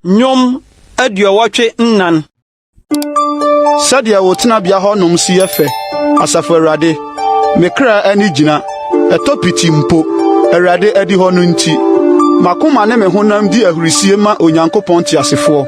Nnwom aduɔwɔtwe nnan. Sɛdeɛ wo tenabea hɔnom si yɛ fɛ, Asafo Awurade, me kra ani gyina, ɛtɔ piti mpo, Awurade adihɔ no nti. M'akoma ne me honam di ahurisie ma Onyankopɔn teasefoɔ.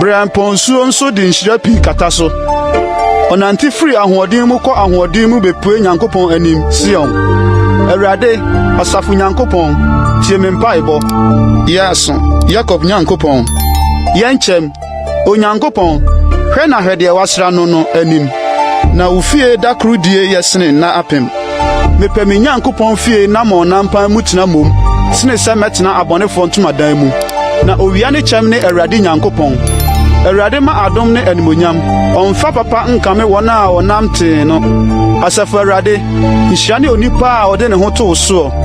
Biriampɔnsuo nso de nhyira pii kata so. Ɔnante firi ahoɔden mu kɔ ahoɔden mu bepue Nyankopɔn anim, Sion. Awurade, asafo Nyankopɔn, tie me mpaebɔ. Yɛ aso, Yakob Nyankopɔn. Yɛ nkyɛm, Onyankopɔn, hwɛ na hwɛ deɛ woasra no no anim. Na wo fie da koro die yɛ sene nna apem. Mepɛ me Nyankopɔn fie na ma ɔnampan mu tena mmom sene sɛ mɛtena abɔnefoɔ ntomadan mu. Na owia ne kyɛm ne Awurade Nyankopɔn. Awurade ma adom ne animonyam, ɔmfa papa nkame wɔn a wɔnam tee no. Asafo Awurade, nhyira ne onipa a ɔde ne ho to wo soɔ.